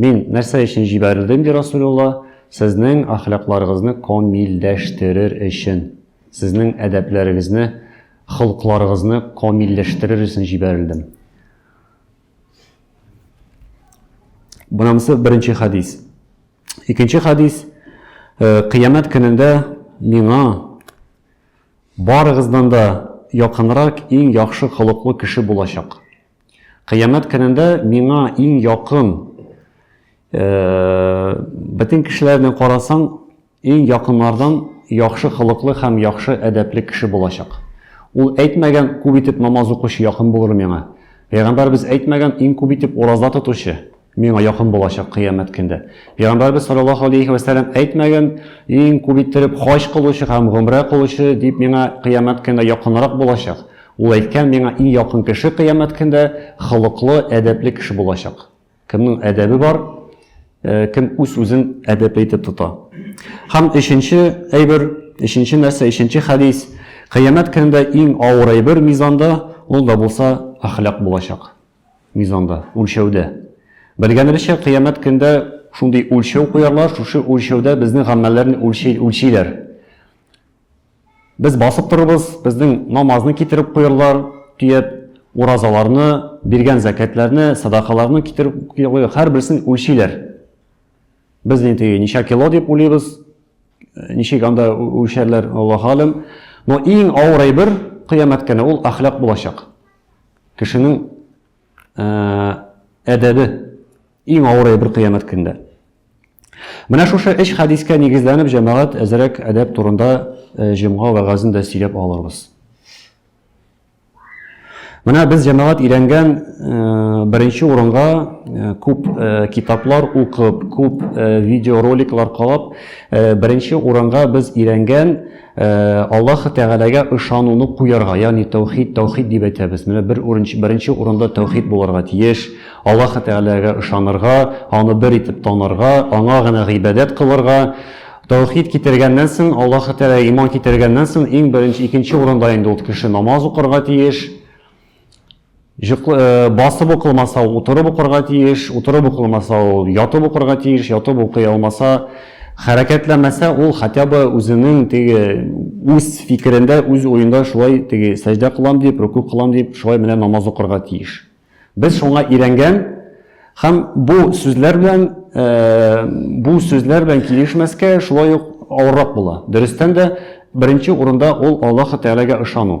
Мин нәрсә өчен җибәрелдем, ди Расулулла, сезнең әхлакларыгызны камилләштерер өчен, сезнең әдәпләрегезне, холыкларыгызны камилләштерер өчен җибәрелдем. Бунамсы беренче хадис. Икенче хадис, э, кыямәт көнендә миңа барыгыздан да якынрак иң яхшы холыклы кеше булачак. Кыямәт көнендә миңа иң якын бөтен кешеләрне карасаң, иң якыннардан яхшы холыклы һәм яхшы әдәпле кеше булачак. Ул әйтмәгән, күп итеп намаз укучы якын булыр миңа. Пәйгамбәребез әйтмәгән, иң күп итеп ураза тотучы. Миңа якын булачак кыямәт көндә. Пәйгамбәрбез саллаллаһу алейхи вә сәлләм әйтмәгән, иң күп иттереп хаҗ кылучы һәм гомрә кылучы дип миңа кыямәт көндә якынрак булачак. Ул әйткән, миңа иң якын кеше кыямәт көндә холыклы, әдәпле кеше булачак. Кемнең әдәбе бар, кем үз-үзен әдәпле итеп тота. Һәм өченче әйбер, өченче нәрсә, өченче хәдис, кыямәт көндә иң авыр әйбер мизанда, ул да булса әхлак булачак. Мизанда, үлчәүдә. Белгәнебезчә, кыямәт көндә шундый үлчәү куярлар, шушы үлчәүдә безнең гамәлләрне үлчәй, үлчиләр. Без басып торыбыз, безнең намазны китереп куярлар, төяп, уразаларны, биргән зәкәтләрне, садакаларны китереп куярлар, һәр берсен үлчиләр. Без инде ничә кило дип уйлыйбыз, ничек анда үлчәрләр, Аллаһ алим. Но иң авыр әйбер кыямәт көне ул әхлак булачак. Кешенең әдәбе иң авыр әйбер кыямәт көндә. Менә шушы эш хәдискә нигезләнеп җәмәгать әзрәк әдәп турында э, җомга вәгазен дә сөйләп алырбыз. Менә без җәмәгать өйрәнгән э, беренче урынга э, күп китаплар укып, күп видеороликлар карап, беренче урынга без өйрәнгән Э, Аллаһы Тәгаләгә ышануны куярга, ягъни тәүхид, тәүхид дип әйтәбез. Менә бер урынчы, беренче урында тәүхид булырга тиеш. Аллаһы Тәгаләгә ышанырга, аны бер итеп танырга, аңа гына гыйбадәт кылырга. Тәүхид китергәннән соң, Аллаһы Тәгалә иман китергәннән соң, иң беренче, икенче урында инде ул кеше намаз укырга тиеш. Җыклы, басып укылмаса, утырып укырга тиеш, утырып укылмаса, ул ятып укырга тиеш, ятып укый алмаса, хәрәкәтләмәсә, ул хотя бы үзенең теге үз фикерендә, үз уенда шулай теге сәҗдә кылам дип, рөку кылам дип, шулай менә намаз укырга тиеш. Без шуңа өйрәнгән һәм бу сүзләр белән бу сүзләр белән килешмәскә шулай ук авыррак була. Дөрестән дә беренче урында ул Аллаһ Тәгаләгә ышану.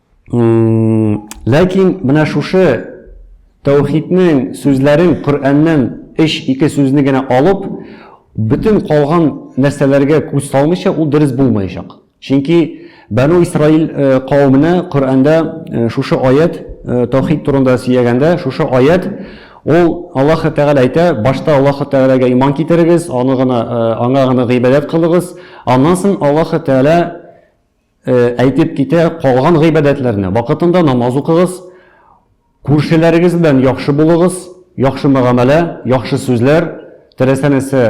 Ләкин менә шушы тәүхиднең сүзләрен Коръәннән өч ике сүзне генә алып, бөтен калган нәрсәләргә күз салмыйча, ул дөрес булмаячак. Чөнки Бәну Исраил кавеменә Коръәндә шушы аят тәүхид турында сөйләгәндә, шушы аят ул Аллаһ Тәгалә әйтә, башта Аллаһ Тәгаләгә иман китерегез, аны гына аңа гына гыйбадәт кылыгыз, аннан соң Аллаһ Тәгалә әйтеп китә, калган гыйбадәтләрне вакытында намаз укыгыз, күршеләрегез белән яхшы булыгыз, яхшы мөгамәлә, яхшы сүзләр, теләсә-нәрсә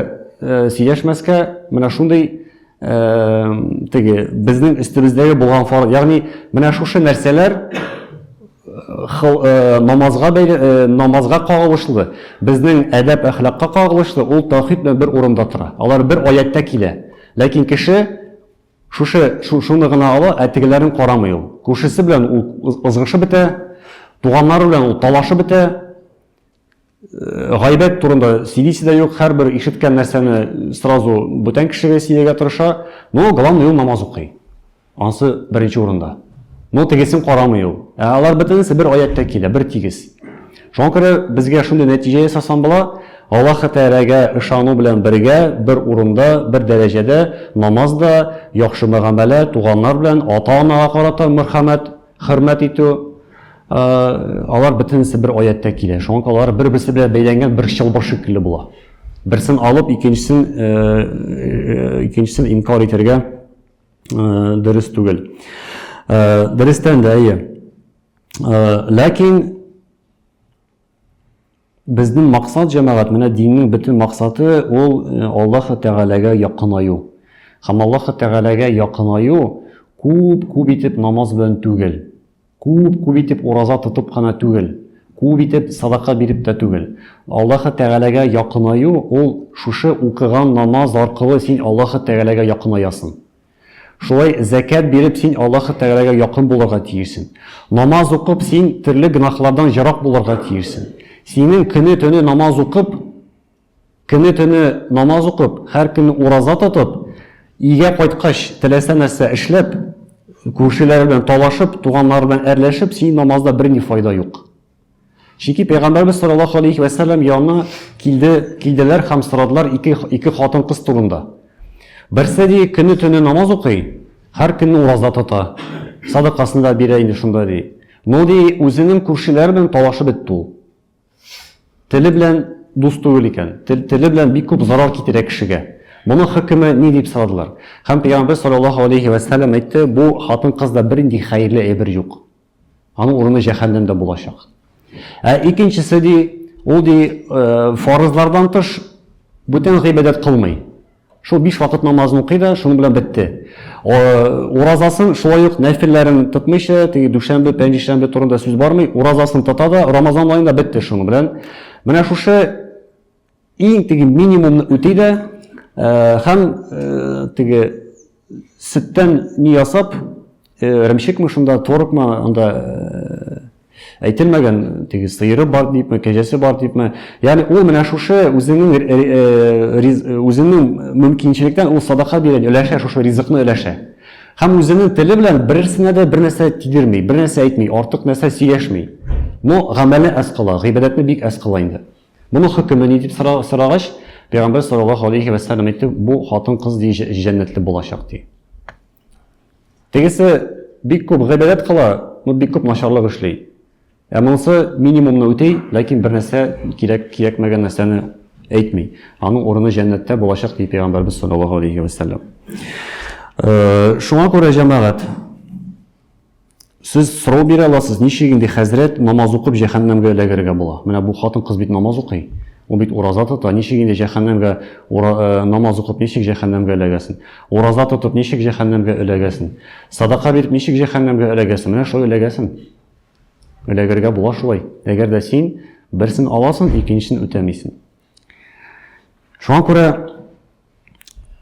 сөйләшмәскә, менә шундый теге безнең өстебездәге булган фар, ягъни менә шушы нәрсәләр намазга бәйле, намазга кагылышлы, безнең әдәп әхлакка кагылышлы, ул тәүхид белән бер урында тора. Алар бер аяттә килә. Ләкин кеше Шушы, шу, шуны гына ала, ә тегеләрен карамый ул. Күршесе белән ул ызгышып бетә, туганнары белән ул талашып бетә. Гайбәт турында сөйлисе дә юк, һәрбер ишеткән нәрсәне сразу бүтән кешегә сөйләргә тырыша. Но главное ул намаз укый. Ансы беренче урында. Но тегесен карамый ул. Ә алар бөтенесе бер аяттә килә, бер тигез. Шуңа күрә безгә шундый нәтиҗә ясасам була, Аллаһы Тәгаләгә ышану белән бергә бер урында, бер дәрәҗәдә намаз да, яхшы мөгамәлә, туганнар белән, ата-анага карата мөрхәмәт, хөрмәт итү, алар бөтенесе бер аятьтә килә. Шуңа күрә алар бер-берсе белән бәйләнгән бер чылбыр шикелле була. Берсен алып, икенчесен икенчесен инкар итәргә дөрес түгел. Дөрестән дә, әйе. Ләкин безнең максат җәмәгать, менә диннең бөтен максаты ул э, Аллаһ Тәгаләгә якынаю. Һәм Аллаһ Тәгаләгә якынаю күп күп итеп намаз белән түгел, күп күп итеп ураза тотып кына түгел, күп итеп садака биреп тә түгел. Аллаһ Тәгаләгә якынаю ул шушы укыган намаз аркылы син Аллаһ Тәгаләгә якынаясың. Шулай зәкят биреп син Аллаһы Тәгаләгә якын булырга тиешсең. Намаз укып син төрле гөнаһлардан ерак булырга тиешсең. Синең көне-төне намаз укып, көне-төне намаз укып, һәр көнне ураза тотып, өйгә кайткач теләсә нәрсә эшләп, күршеләре белән талашып, туганнары белән әрләшеп, синең намазда берни файда юк. Чөнки пәйгамбәрбез саллаллаһу алейхи ва сәлләм янына килде, килделәр һәм сорадылар ике ике хатын-кыз турында. Берсе ди, көне төне намаз укый, һәр көнне ураза тота. Садакасын да бирә инде шунда ди. Но ди, үзенең күршеләре белән талашып бетте ул. Теле белән дус түгел икән. Теле белән бик күп зарар китерә кешегә. Моның хөкеме ни дип сорадылар. Һәм пәйгамбәр саллаллаһу алейхи ва сәлләм әйтте, бу хатын-кызда бернинди хәерле әйбер юк. Аның урыны җәһәннәмдә булачак. Ә икенчесе ди, ул ди э, фарызлардан тыш бүтән гыйбадәт кылмый. Шул биш вакыт намазын укый да, шуның белән бетте. Уразасын шулай ук нәфилләрен тотмыйча, теге дүшәмбе, пәнҗешәмбе турында сүз бармый, уразасын тота да, Рамазан аенда бетте шуның белән. Менә шушы Иң теге минимумны үти дә һәм теге сөттән ни ясап, ремчекме шунда, творогмы, анда әйтелмәгән теге сыйыры бар дипме, кәҗәсе бар дипме. Ягъни ул менә шушы үзенең үзенең мөмкинчелектән ул садака бирә, өләшә шушы ризыкны өләшә. Һәм үзенең теле белән берсенә дә бер нәрсә тидерми, бер нәрсә әйтми, артык нәрсә сөйләшми. Но гамәле әз кала, гыйбадәтне бик әз кала инде. Моның хөкеме ни дип сорагач, пәйгамбәр саллаллаһу алейхи ва саллям әйтте, бу хатын-кыз ди җәннәтле булачак ди. Тегесе бик күп гыйбадәт кыла, но бик күп начарлык эшли. Ә монысы минимумны үти, ләкин бер нәрсә кирәк кирәкмәгән нәрсәне әйтми. Аның урыны җәннәттә булачак ди пәйгамбәрбез саллаллаһу алейхи ва саллям. Э, шуңа күрә җәмәгать Сез сорау бирә аласыз, ничек инде хәзрәт намаз укып җәһәннәмгә эләгергә була? Менә бу хатын-кыз бит намаз укый. Ул бит ураза тота. Ничек инде җәһәннәмгә э, намаз укып ничек җәһәннәмгә эләгәсен? Ураза тотып ничек җәһәннәмгә эләгәсен? Садака биреп ничек җәһәннәмгә эләгәсен? Менә шулай эләгәсен. Эләгергә була шулай. Әгәр дә син берсен аласың, икенчесен үтәмисең. Шуңа күрә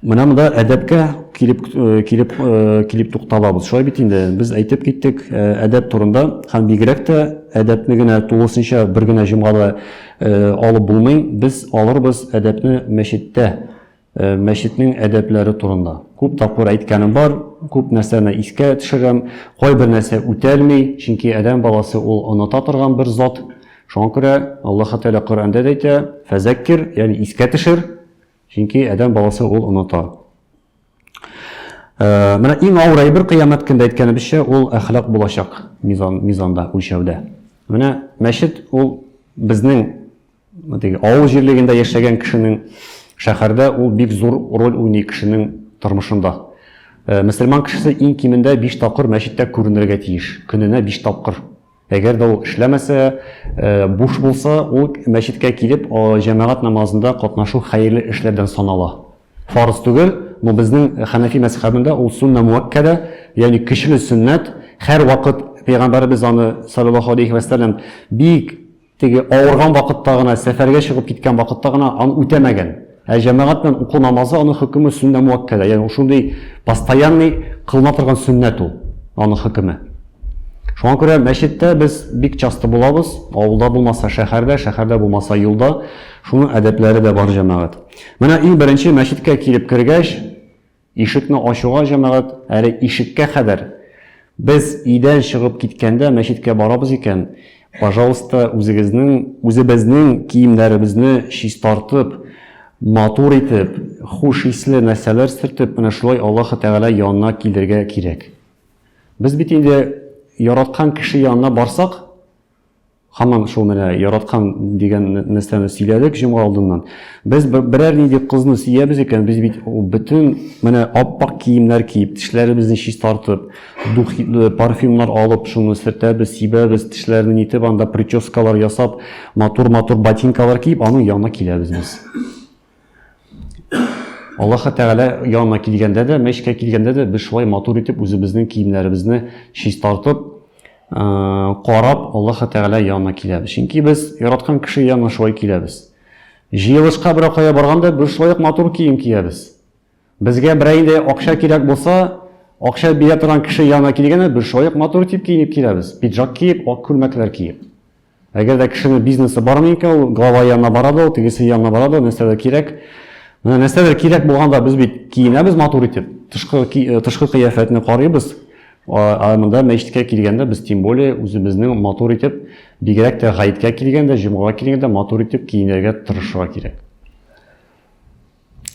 Менә монда әдәпкә килеп э, килеп э, килеп тукталабыз. Шулай бит инде без әйтеп киттек э, әдәп турында һәм бигрәк тә әдәпне генә тулысынча бер генә җомгада алып булмый. Без алырбыз әдәпне мәчеттә, мәчетнең әдәпләре турында. Күп тапкыр әйткәнем бар, күп нәрсәне искә төшерәм. Кайбер нәрсә үтәлми, чөнки адәм баласы ул оныта торган бер зат. Шуңа күрә Аллаһ Тәгалә Коръәндә әйтә: "Фәзәккир", ягъни искә төшер, Чөнки адәм баласы ул оныта. Э, менә иң авыр әйбер кыямәт көндә әйткәнебезчә, ул әхлак булачак мизан, мизанда, үлчәүдә. Менә мәчет ул безнең теге авыл җирлегендә яшәгән кешенең шәһәрдә ул бик зур роль уйный кешенең тормышында. Э, мөселман кешесе иң кимендә 5 тапкыр мәчеттә күренергә тиеш, көненә 5 тапкыр. Әгәр дә ул эшләмәсә, буш булса, ул мәчеткә килеп, җәмәгать намазында катнашу хәерле эшләрдән санала. Фарыз түгел, но безнең хәнәфи мәзхәбендә ул суннә муаккәдә, ягъни көчле сөннәт, һәрвакыт пәйгамбәребез аны, салләллаһу галәйһи вә сәлләм, бик Теге авырган вакытта гына, сәфәргә чыгып киткән вакытта гына аны үтәмәгән. Ә җәмәгать белән уку намазы аның хөкеме сөннә муаккәдә. Ягъни шундый постоянный кылына торган сөннәт ул, аның хөкеме. Шуңа күрә мәчеттә без бик часто булабыз, авылда булмаса шәһәрдә, шәһәрдә булмаса юлда. Шуның әдәпләре дә бар җәмәгать. Менә иң беренче мәчеткә килеп кергәч, Ишекне ачуга җәмәгать әле ишеккә кадәр, без өйдән чыгып киткәндә мәчеткә барабыз икән, пожалуйста, үзегезнең, үзебезнең киемнәребезне чистартып, матур итеп, хуш исле нәрсәләр сөртеп, менә шулай Аллаһы Тәгалә янына килергә кирәк. Без бит инде яраткан кеше янына барсак, Хаман шул менә яраткан дигән нәрсәне сөйләдек җомга алдыннан. Без берәр нинди кызны сөябез икән, без бит бөтен менә аппак киемнәр киеп, тешләребезне чистартып, духи, э, парфюмнар алып, шуны сөртәбез, сибәбез, тешләрне нитеп, анда прическалар ясап, матур-матур ботинкалар киеп, аның янына киләбез без. Аллаһы Тәгалә янына килгәндә дә, мәчкә килгәндә дә без шулай матур итеп үзебезнең киемнәребезне чистартып, карап, Аллаһы Тәгалә янына киләбез. Чөнки без яраткан кеше янына шулай киләбез. Җыелышка берәү кая барганда без шулай ук матур кием киябез. Безгә берәй инде акча кирәк булса, акча бирә торган кеше янына килгәндә без шулай ук матур итеп киенеп киләбез. Пиджак киеп, ак күлмәкләр киеп. Әгәр дә кешене бизнесы бар микән, ул глава янына бара да, тегесе янына бара да, нәрсәдер кирәк. Менә нәрсәдер кирәк булганда без бит киенәбез матур итеп. Тышкы э, тышкы кыяфәтне карыйбыз. Ә монда мәчеткә килгәндә без тем более үзебезнең матур итеп, бигрәк тә гаеткә килгәндә, җомгага килгәндә матур итеп киенергә тырышырга кирәк.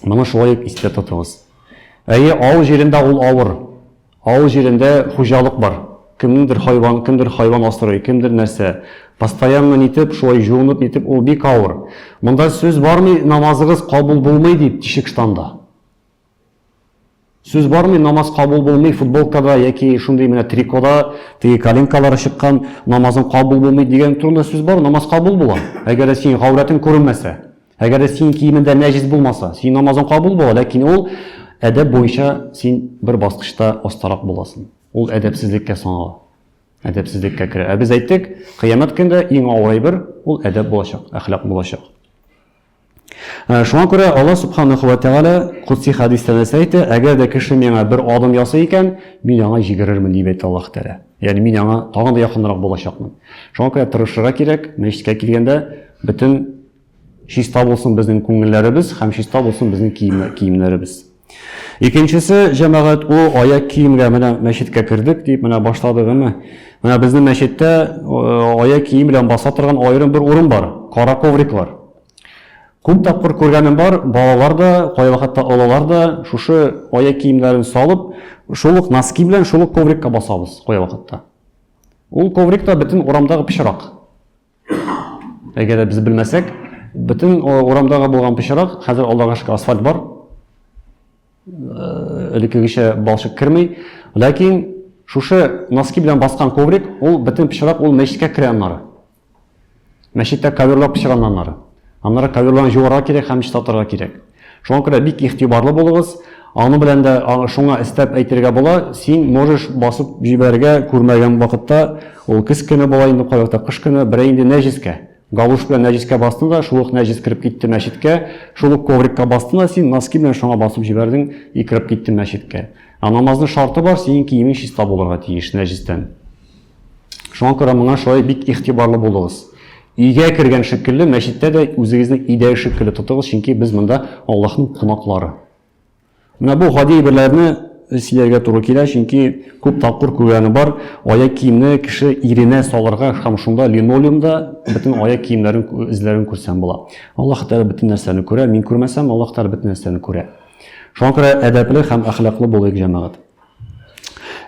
Моны шулай ук истә тотыгыз. Әйе, авыл җирендә ул авыр. Авыл җирендә хуҗалык бар. Кемнеңдер хайван, кемдер хайван асрый, кемдер нәрсә. Постоянно нитеп, шулай җуынып нитеп, ул бик авыр. Монда сүз бармый, намазыгыз кабул булмый дип, тишек штанда. Сүз бармый, намаз кабул булмый, футболкада яки шундый менә трикода теге коленкалары чыккан, намазың кабул булмый дигән турында сүз бар, намаз кабул була. Әгәр дә синең гаурәтең күренмәсә, әгәр дә синең киемендә нәҗис булмаса, синең намазың кабул була, ләкин ул әдәп буенча син бер баскычта астарак буласың. Ул әдәпсезлеккә санала. Әдәпсезлеккә керә. Ә без әйттек, кыямәт көндә иң авыр әйбер ул әдәп булачак, әхлак булачак. Шуңа күрә Алла Сүбхәнәһү вә Тәгалә Котси хәдистә нәрсә әйтә? Әгәр дә кеше миңа бер адым ясый икән, мин аңа җигерермен, дип әйтте Аллаһ Тәгалә. Ягъни мин аңа тагын да якынрак булачакмын. Шуңа күрә тырышырга кирәк, мәчеткә килгәндә бөтен чиста булсын безнең күңелләребез һәм чиста булсын безнең киемнәребез. Икенчесе, җәмәгать, о, аяк киемгә менә мәчеткә кердек дип, менә башлады гына. Менә безнең мәчеттә аяк кием белән баса торган аерым бер урын бар, кара ковриклар. Күп тапкыр күргәнем бар, балалар да, кайвакытта олылар да шушы аяк киемнәрен салып, шул ук носки белән шул ук коврикка басабыз кайвакытта. Ул коврик та бөтен урамдагы пычрак. Әгәр дә без белмәсәк, бөтен урамдагы булган пычрак, хәзер алдагы шикелле асфальт бар. Э, элеккегечә балчык керми. Ләкин шушы носки белән баскан коврик, ул бөтен пычрак ул мәчеткә керә аннары. Мәчеттә коверлар пычранганнары. Аннары коверларны җуарга кирәк һәм чистартырга кирәк. Шуңа күрә бик игътибарлы булыгыз. Аны белән дә шуңа өстәп әйтергә була, син можешь басып җибәрергә күрмәгән вакытта, ул көз көне була инде кай вакытта кыш көне, берәй инде нәҗескә, галуш белән нәҗескә бастың да, шул ук нәҗес кереп китте мәчеткә, шул ук коврикка бастың да, син носки белән шуңа басып җибәрдең и кереп киттең мәчеткә. Ә намазның шарты бар, синең киемең чиста булырга тиеш нәҗестән. Шуңа күрә моңа шулай бик игътибарлы булыгыз. Өйгә кергән шикелле, мәчеттә дә үзегезне өйдәге шикелле тотыгыз, чөнки без монда Аллаһның кунаклары. Менә бу гади әйберләрне сөйләргә туры килә, чөнки күп тапкыр күргәне бар, аяк киемне кеше иренә салырга һәм шунда линолеумда бөтен аяк киемнәрен эзләрен күрсәм була. Аллаһ Тәгалә бөтен нәрсәне күрә, мин күрмәсәм, Аллаһ Тәгалә бөтен нәрсәне күрә. Шуңа күрә әдәпле һәм әхлаклы булыйк, җәмәгать.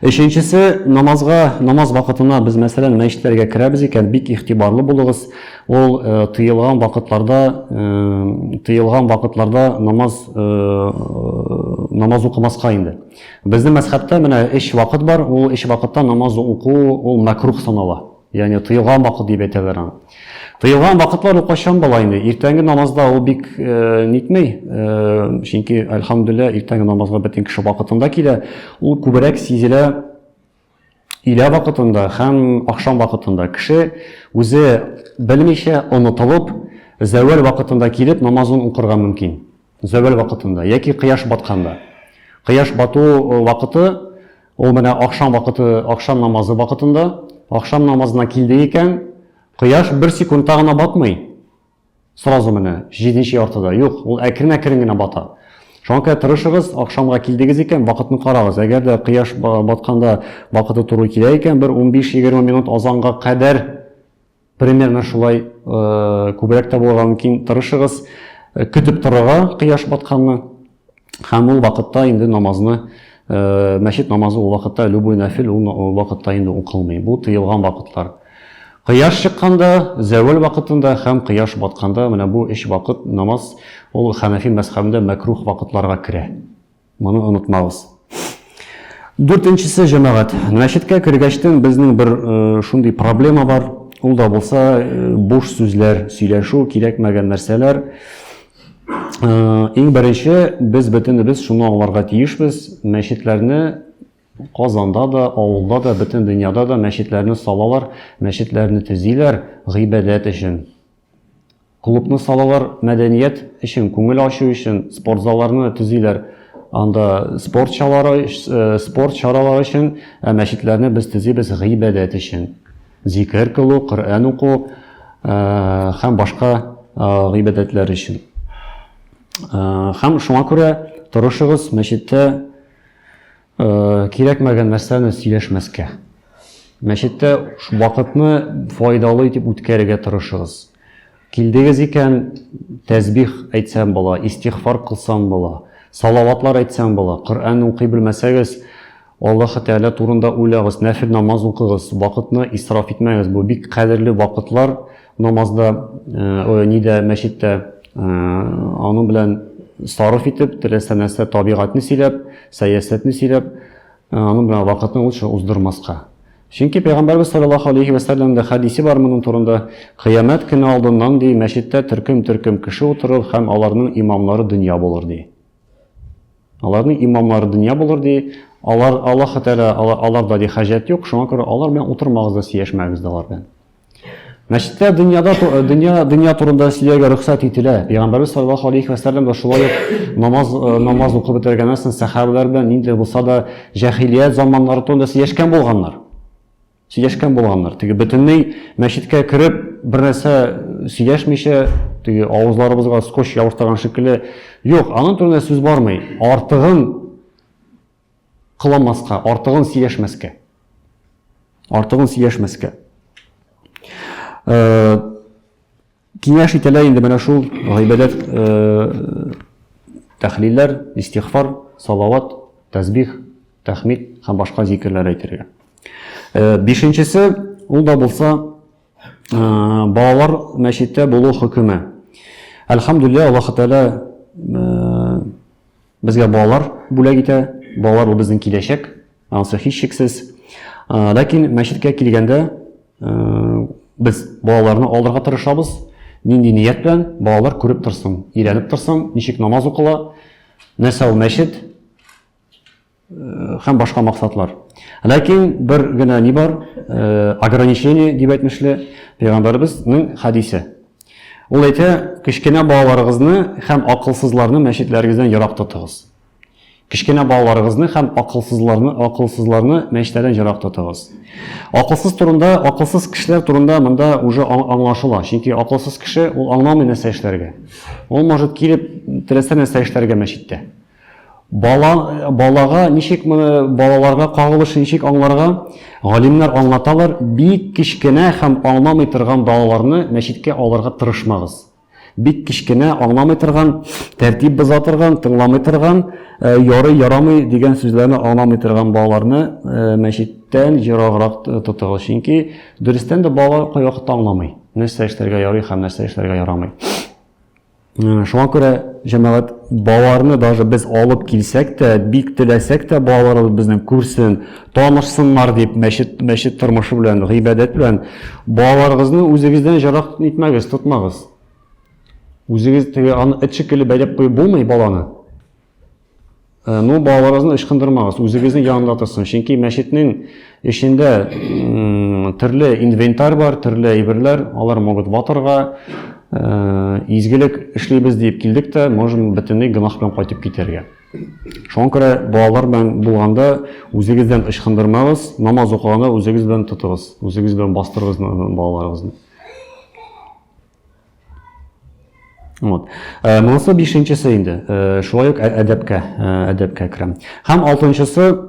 Өченчесе, намазга, намаз вакытына без, мәсәлән, мәчетләргә керәбез икән, бик игътибарлы булыгыз. Ул э, тыелган вакытларда, э, тыелган вакытларда намаз э, намаз укымаска инде. Безнең мәсхәбтә менә эш вакыт бар, ул эш вакытта намаз уку ул мәкрух санала. Ягъни тыелган вакыт дип әйтәләр аны. Тыелган вакытлар ул кайчан була инде? Иртәнге намазда ул бик э, нитмей, э, чөнки альхамдулилла иртәнге намазга бөтен кеше вакытында килә. Ул күбрәк сизелә илә вакытында һәм ахшам вакытында. Кеше үзе белмичә онытылып, зәвәл вакытында килеп намазын укырга мөмкин. Зәвәл вакытында яки кояш батканда. Кояш бату э, вакыты ул менә ахшам вакыты, ахшам намазы вакытында. Ахшам намазына килде икән, кояш бер секундта гына батмый. Сразу менә 7 яртыда. Юк, ул әкрен-әкрен генә бата. Шуңа күрә тырышыгыз, ахшамга килдегез икән, вакытны карагыз. Әгәр дә кояш батканда вакыты туры килә икән, бер 15-20 минут азанга кадәр Примерно шулай күбрәк тә булырга мөмкин. Тырышыгыз көтеп торырга кояш батканны һәм ул вакытта инде намазны мәчет намазы ул вакытта любой нәфил ул вакытта инде укылмый. Бу тыелган вакытлар. Кояш чыкканда, зәвәл вакытында һәм кояш батканда менә бу өч вакыт намаз ул Ханафи мәзхәбендә мәкрух вакытларга керә. Моны онытмагыз. Дүртенчесе җәмәгать. Мәчеткә кергәчтен безнең бер э, шундый проблема бар. Ул да булса э, буш сүзләр, сөйләшү, кирәкмәгән нәрсәләр. Э, иң беренче без бөтенебез шуны аңларга тиешбез. Мәчетләрне Казанда да, авылда да, бөтен дөньяда да мәчетләрне салалар, мәчетләрне төзиләр гыйбадәт өчен. Клубны салалар, мәдәният өчен, күңел ачу өчен, спортзалларны төзиләр. Анда спорт чалары, спорт чаралары өчен, ә мәчетләрне без төзибез гыйбадәт өчен. Зикер кылу, Коръән уку һәм башка гыйбадәтләр өчен. Һәм шуңа күрә торышыгыз мәчеттә Э, кирәкмәгән нәрсәне сөйләшмәскә мәчеттә вакытны файдалы итеп үткәрергә тырышыгыз килдегез икән тәсбих әйтсәм була истихфар кылсам була салаватлар әйтсәм була коръән укый белмәсәгез аллаһы тәғәлә турында уйлагыз нәфил намаз укыгыз вакытны исраф итмәгез бу бик кадерле вакытлар Намазда, э, нидә, мәчеттә э, аның белән сарыф итеп, теләсә нәрсә табигатьне сөйләп, сәясәтне сөйләп, э, аның белән вакытны лучше уздырмаска. Чөнки пәйгамбәрбез саллаллаху алейхи ва саллямда хадисе бар моның турында, кыямәт көне алдыннан ди, мәчеттә төркем-төркем кеше утырыр һәм аларның имамлары дөнья булыр ди. Аларның имамлары дөнья булыр ди, алар Аллаһ Тәгалә аларда ди хаҗәт юк, шуңа күрә алар белән утырмагыз да, сөйләшмәгез дә алар белән. Мәчеттә дөньяда дөнья дөнья турында сөйләргә рөхсәт ителә. Пәйгамбәрбез саллаллаһу алейхи ва саллям да шулай ук намаз э, намаз укып бетергәннән соң сәхабәләр белән нинди булса да җәһилият заманнары турында сөйләшкән булганнар. Сөйләшкән булганнар. Теге бөтенләй мәчеткә кереп бер нәрсә сөйләшмичә, теге авызларыбызга скотч ябыштырган шикелле. Юк, аның турында сүз бармый. Артыгын Кыламаска, артыгын сөйләшмәскә. Артыгын сөйләшмәскә. Киңәш ителә инде менә шул гыйбадәт тәхлилләр, истигъфар, салават, тәсбих, тәхмид һәм башка зикерләр әйтергә. Бишенчесе, ул да булса балалар мәчеттә булу хөкеме. Әлхәмдүлилләһ, Аллаһ Тәгалә Безгә балалар бүләк итә, балалар ул безнең киләчәк, анысы һичшиксез. Ләкин мәчеткә килгәндә без балаларны алырга тырышабыз. Нинди ният белән балалар күреп торсын, өйрәнеп торсын, ничек намаз укыла, нәрсә ул мәчет. һәм башка максатлар. Ләкин бер генә ни бар, ограничение дип әйтмешле пәйгамбәребезнең хәдисе. Ул әйтә, кечкенә балаларыгызны һәм акылсызларны мәчетләрегездән ерак тотыгыз. Кечкенә балаларыгызны һәм акылсызларны, акылсызларны мәчетләрдән ерак тотыгыз. Акылсыз турында, акылсыз кешеләр турында монда уже аңлашыла. Чөнки акылсыз кеше ул аңламый нәрсә эшләргә. Ул может килеп теләсә нәрсә эшләргә мәчеттә. Бала, балага ничек моны балаларга кагылышы ничек аңларга? Галимнәр аңлаталар, бик кечкенә һәм аңламый торган балаларны мәчеткә алырга тырышмагыз. Бик кечкенә, аңламый торган, тәртип боза торган, тыңламый торган, э, ярый, ярамый дигән сүзләрне аңламый торган балаларны э, мәчеттән ераграк тотыгыз. Чөнки дөрестән дә балалар кайвакытта аңламый, нәрсә эшләргә ярый һәм нәрсә эшләргә ярамый. Шуңа күрә җәмәгать балаларны даже без алып килсәк тә, бик теләсәк тә балаларыбыз безнең күрсен, танышсыннар дип мәчет, мәчет тормышы белән, гыйбадәт белән балаларыгызны үзегездән җарак итмәгез, тотмагыз. Үзегез теге аны эт шикелле бәйләп куеп булмый баланы. Э, ну, балаларыгызны ычкындырмагыз, үзегезнең янында торсын. Чөнки мәчетнең эчендә төрле инвентарь бар, төрле әйберләр, алар могут ватырга, э, изгелек эшлибез дип килдек тә, можем бөтенләй гөнаһ белән кайтып китәргә. Шуңа күрә балалар белән булганда үзегездән ычкындырмагыз, намаз укыганда үзегез белән тотыгыз, үзегез белән бастырыгыз балаларыгызны. Вот. Э, монысы бишенчесе инде. Э, шулай ук ә, әдәпкә, э, әдәпкә керәм. Һәм алтынчысы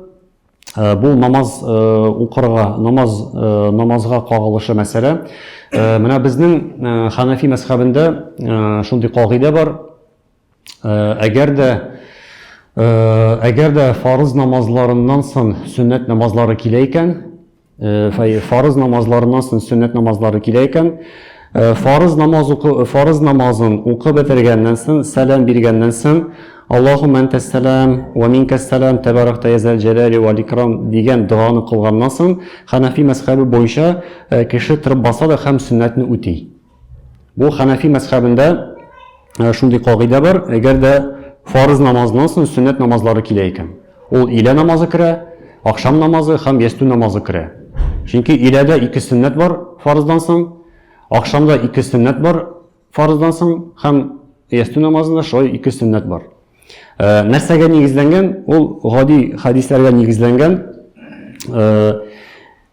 бу намаз укырга, намаз намазга кагылышы мәсьәлә. Менә безнең Ханафи мәсхәбендә шундый кагыйдә бар. Әгәр дә әгәр дә фарыз намазларыннан соң сөннәт намазлары килә икән, фарыз намазларыннан соң сөннәт намазлары килә икән, фарыз намаз укы, фарыз намазын укып бетергәннән соң, сәлам биргәннән соң, Аллаһумма антас салам ва минкас салам табаракта язал җәлали вал икрам дигән доганы кылганнан соң, Ханафи мәзхәбе буенча кеше торып баса да һәм сөннәтне үти. Бу хәнәфи мәзхәбендә шундый кагыйдә бар, әгәр дә фарыз намазыннан соң сөннәт намазлары килә икән. Ул илә намазы керә, ахшам намазы һәм ястү намазы керә. Чөнки иләдә ике сөннәт бар фарыздан соң, ахшамда ике сөннәт бар фарыздан соң һәм ястү намазында шулай ике сөннәт бар. Э, нәрсәгә нигезләнгән? Ул гади хәдисләргә нигезләнгән. Э,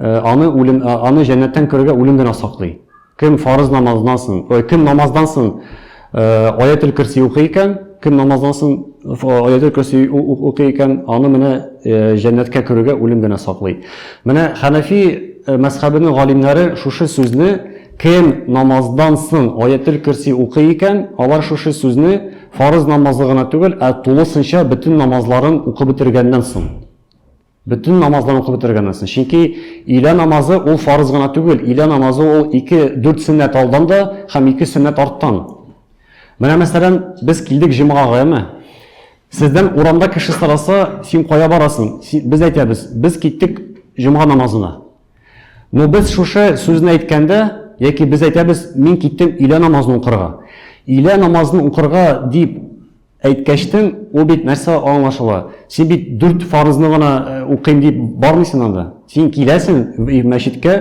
Э, аны үлем э, аны җәннәттән күрергә үлем генә саклый кем фарыз намаздан соң э, кем намаздан соң аятел көрси укый икән кем намаздан соң аятел көрси укый икән аны менә җәннәткә керүгә үлем генә саклый менә хәнәфи мәзхәбенең галимнәре шушы сүзне кем намаздан соң аятел көрси укый икән алар шушы сүзне фарыз намазы гына түгел ә тулысынча бөтен намазларын укып бетергәннән соң Бөтен намазларын укып бетергәннәсен. Чөнки илә намазы ул фарыз гына түгел, илә намазы ул ике дүрт сөннәт алдан да һәм ике сөннәт арттан. Менә мәсәлән, без килдек җомгага, әме. Сездән урамда кеше сораса, син кая барасың? Без әйтәбез, без киттек җомга намазына. Но без шушы сүзне әйткәндә, яки без әйтәбез, мин киттем илә намазын укырга. Илә намазын укырга дип Әйткәчтен, ул бит нәрсә аңлашыла? Син бит дүрт фарызны гына э, укыйм дип бармыйсың анда. Син киләсең мәчеткә,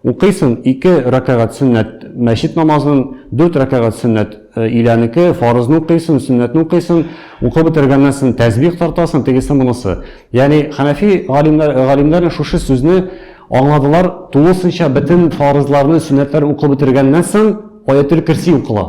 укыйсың ике рәкәгать сөннәт мәчет намазын, дүрт рәкәгать сөннәт э, иләнеке, фарызны укыйсың, сөннәтне укыйсың, укып бетергәннән соң тәсбих тартасың, тегесе монысы. Ягъни хәнәфи галимнәр галимнәр шушы сүзне аңладылар, тулысынча бөтен фарызларны, сөннәтләр укып бетергәннән соң аятел кирси укыла.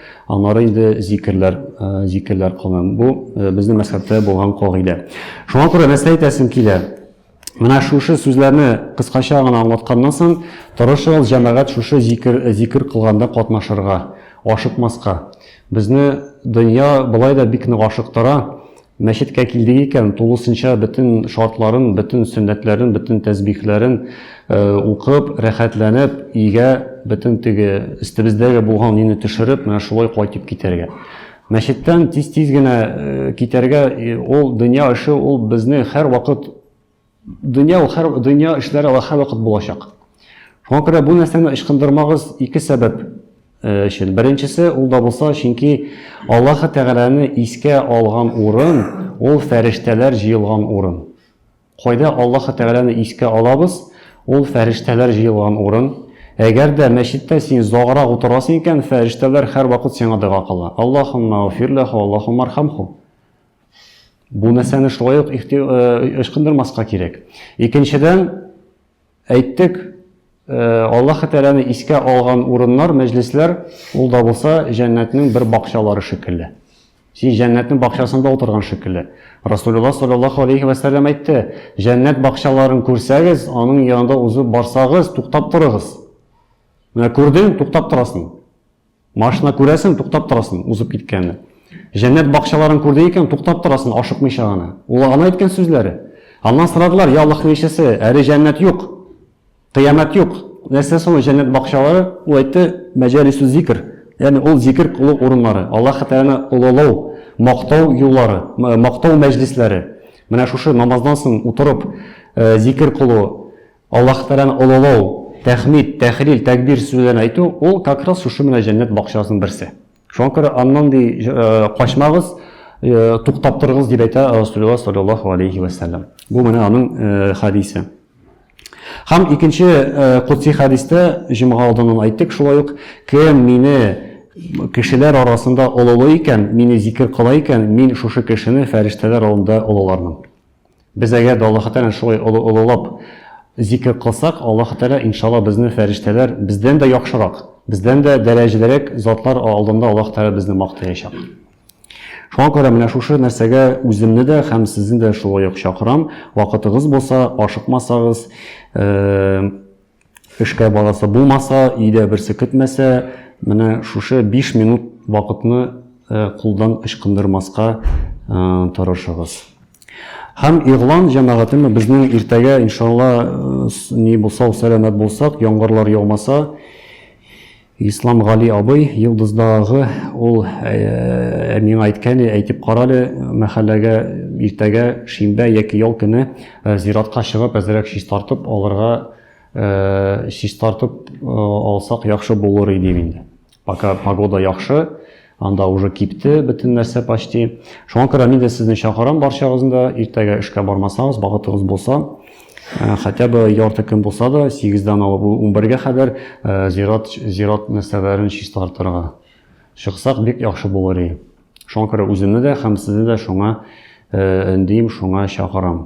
Аннары инде зикерләр, зикерләр кылынам. Бу безнең мәсхәбтә булган кагыйдә. Шуңа күрә нәрсә әйтәсем килә? Менә шушы сүзләрне кыскача гына аңлатканнан соң, тырышыгыз җәмәгать шушы зикер, зикер кылганда катнашырга, ашыкмаска. Безне дөнья болай да бик нык ашыктыра, Мәчеткә килдек икән, тулысынча бөтен шартларын, бөтен сөннәтләрен, бөтен тәсбихләрен укып, рәхәтләнеп, өйгә бөтен теге өстебездәге булган өйне төшереп, менә шулай кайтып китәргә. Мәчеттән тиз-тиз генә китәргә, ул дөнья эше, ул безне һәрвакыт Дөнья ул һәр дөнья эшләре алар һәрвакыт булачак. Шуңа күрә бу нәрсәне ычкындырмагыз ике сәбәп э, өчен. Беренчесе ул да булса, чөнки Аллаһ Тәгаләне искә алган урын ул фәрештәләр җыелган урын. Кайда Аллаһ Тәгаләне искә алабыз? Ул фәрештәләр җыелган урын. Әгәр дә мәчеттә син загыра утырасың икән, фәрештәләр һәрвакыт сиңа дога кыла. Аллаһумма уфирлаху, Аллаһумма архамху. Бу мәсьәләне шулай ук ычкындырмаска кирәк. Икенчедән, әйттек, Аллаһы Тәгаләне искә алган урыннар, мәҗлесләр, ул да булса җәннәтнең бер бакчалары шикелле. Син җәннәтнең бакчасында утырган шикелле. Расулуллаһ саллаллаһу алейхи ва саллям әйтте, җәннәт бакчаларын күрсәгез, аның янында узып барсагыз, туктап торыгыз. Менә күрдең, туктап торасың. Машина күрәсен, туктап торасың, узып киткәнне. Җәннәт бакчаларын күрде икән, туктап торасың, ашыкмыйча гына. Ул гына әйткән сүзләре. Аннан сорадылар, я Аллаһның илчесе, әле җәннәт юк, кыямәт юк. Нәрсә соң җәннәт бакчалары? Ул әйтте, мәҗалису зикр. Ягъни ул зикр кылу урыннары, Аллаһ Тәгаләне олылау, мактау юллары, мактау мәҗлисләре. Менә шушы намаздан соң утырып зикр кылу, Аллаһ Тәгаләне олылау, тәхмид, тәхлил, тәкбир сүзләрен әйтү, ул как раз шушы менә җәннәт бакчасының берсе. Шуңа күрә аннан ди качмагыз, туктап торыгыз дип әйтә Расулуллаһ саллаллаһу алейхи ва саллям. Бу менә аның хадисе. Һәм икенче э, кутси хәдистә җомга алдыннан әйттек шулай ук, кем мине кешеләр арасында олылый икән, мине зикер кыла икән, мин шушы кешене фәрештәләр алдында олылармын. Без әгәр дә Аллаһы Тәгаләне шулай олы олылап зикер кылсак, Аллаһы Тәгалә, иншалла, безне фәрештәләр, бездән дә яхшырак, бездән дә дәрәҗәлерәк затлар алдында Аллаһы Тәгалә безне мактаячак. Шуңа күрә менә шушы нәрсәгә үземне дә һәм сезне дә шулай ук чакырам. Вакытыгыз булса, ашыкмасагыз, э, Эшкә барасы булмаса, өйдә берсе көтмәсә, менә шушы биш минут вакытны кулдан ычкындырмаска тырышыгыз. Һәм игълан җәмәгатеме безнең иртәгә иншалла ни булса сәламәт булсак, яңгырлар яумаса, Ислам Гали абый, Йолдыздагы ул ә, миңа әйткәне, әйтеп карале, мәхәлләгә иртәгә шимбә яки ял көне ә, зиратка чыгып, әзрәк шиш тартып алырга, ә, шиш тартып ә, алсак яхшы булыр иде инде. Пока погода яхшы, Анда уже кипте бөтен нәрсә почти. Шуңа күрә мин дә сезне чакырам барчагызны да. Иртәгә эшкә бармасагыз, багытыгыз булса, э, хотя бы ярты көн булса да, 8-дән алып 11-гә хәбәр э, зират зират нәрсәләрен чистартырга чыксак бик яхшы булыр иде. Шуңа күрә үземне дә һәм сезне дә шуңа э, эндим, шуңа чакырам.